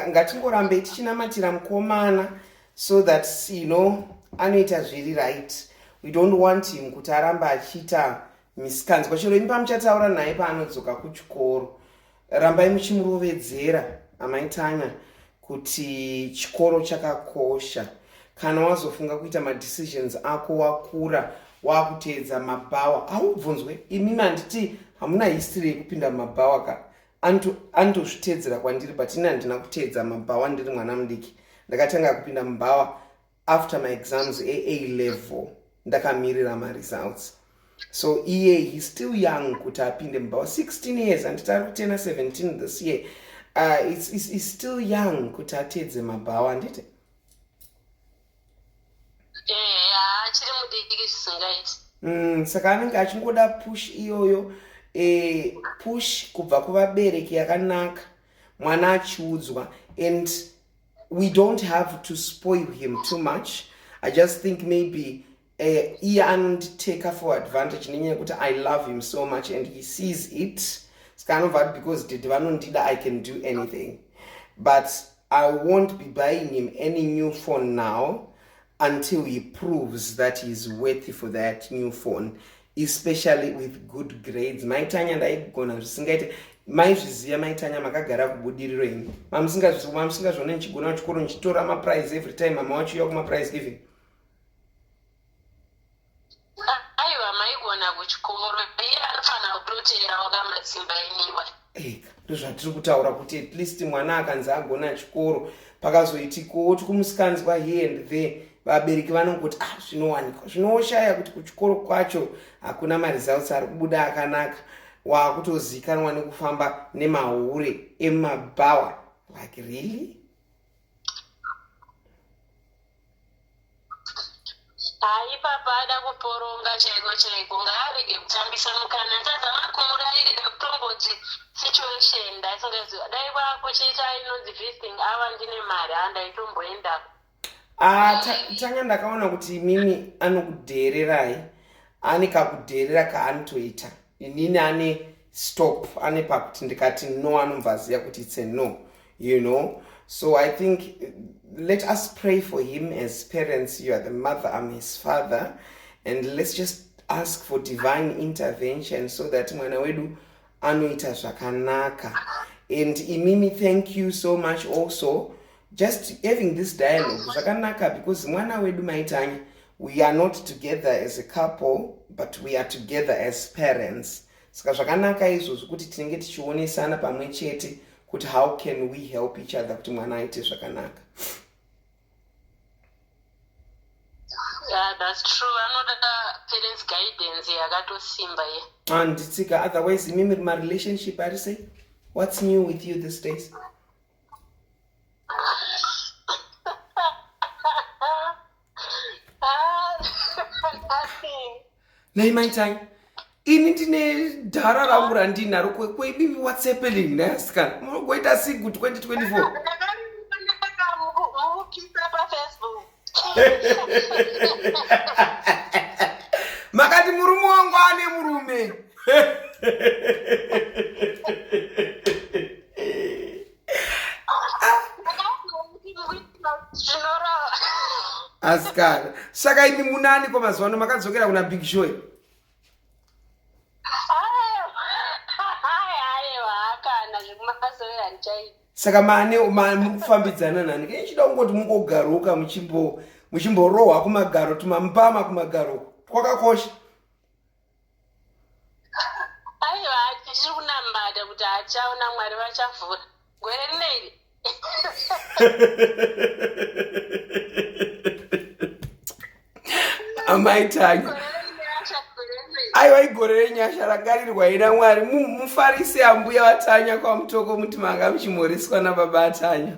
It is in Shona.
ngatingorambei tichinamatira mukomana so that you know anoita zviri right we don't want him kuti aramba achiita misikanzwa chero imi pamuchataura naye paanodzoka kuchikoro rambai muchimurovedzera amaitanya kuti chikoro chakakosha kana wazofunga kuita madecisions ako wakura wakuteedza mabhawa haubvunzwe imi manditi hamuna history yekupinda mumabhawa ka antu andozviteedzera kwandiri but ini handina kuteedza mabhawa ndiri mwana mudiki ndakatanga kupinda mubhawa after my exams ea level ndakamirira maresults so iye he still young kuti apinde mubhawa 16 years anditi ari kutena 17 this year uh, it's, it's, it's still young kuti ateedze mabhawa handiti Mm, saka anenge achingoda push iyoyo e, push kubva kuvabereki yakanaka mwana achiudzwa and we don't have to spoil him too much i just think maybe eh, iye anonditeka for advantage nenyaya yekuti i love him so much and he sees it ska anobva ati because did vanondida i can do anything but i won't be buying him any new phone now until he proves that he is worthy for that new phone especially with good grades maitanya ndaigona zvisingaite maizviziva maitanya makagara kubudiriro ini mamusingazvione ndichigona kuchikoro ndichitora maprize every time mama wacho iya kumaprize giving aiwa maigona kuchikoro iye anofanira kutoteerawo kamatsimba iniwa eka ndozvatiri kutaura kuti at least mwana akanzi agona chikoro pakazoitikowo tikumusikanzwa here and there vabereki vanongoti ah zvinowanikwa zvinoshaya kuti kuchikoro kwacho hakuna maresults ari kubuda akanaka waakutozikanwa nekufamba nemahure emumabhawa like really haipapa ada kuporonga chaiko chaiko ngaarege kutambisa mukana ndazama kumurairira kutomboti situation ndaisingaziva dai kwakuchiita inonzi visiting ava ndine mari handaitomboendako ah, tanga ndakaona kuti imimi anokudheererai ane kakudheerera kaanotoita inini ane stop ane pakuti ndikati no anobva aziva kuti its a no you know so i think let us pray for him as parents you are the mother am his father and let's just ask for divine intervention so that mwana wedu anoita zvakanaka and imimi thank you so much also just having this dialogue zvakanaka because mwana wedu maitanya we are not together as a couple but we are together as parents saka zvakanaka izvozvi kuti tinenge tichionesana pamwe chete kuti how can we help each other kuti mwana aite zvakanaka handitsika ah, otherwise imimi ri marelationship ari sei what's new with you this days nhai mai tai ini ndine dhara rangu randinaro kweibibi watsepelin nhai asikana munogoita sigu 2024 makati murume wangu ane murume asikana saka imi munani ko mazuva ano makadzokera kuna big show saka mane mukufambidzana nani kei chida kungoti mungogaroka muchimborohwa kumagaro tumambama kumagaro kwakakosha aiwa tichiri kunambata kuti hachaona mwari vachavhura gore rino iri amai tanya aiwa igore renyasha rangarirwa ina mwari mufarise ambuya vatanya kwamutoko muti manga muchimhoreswa nababa atanya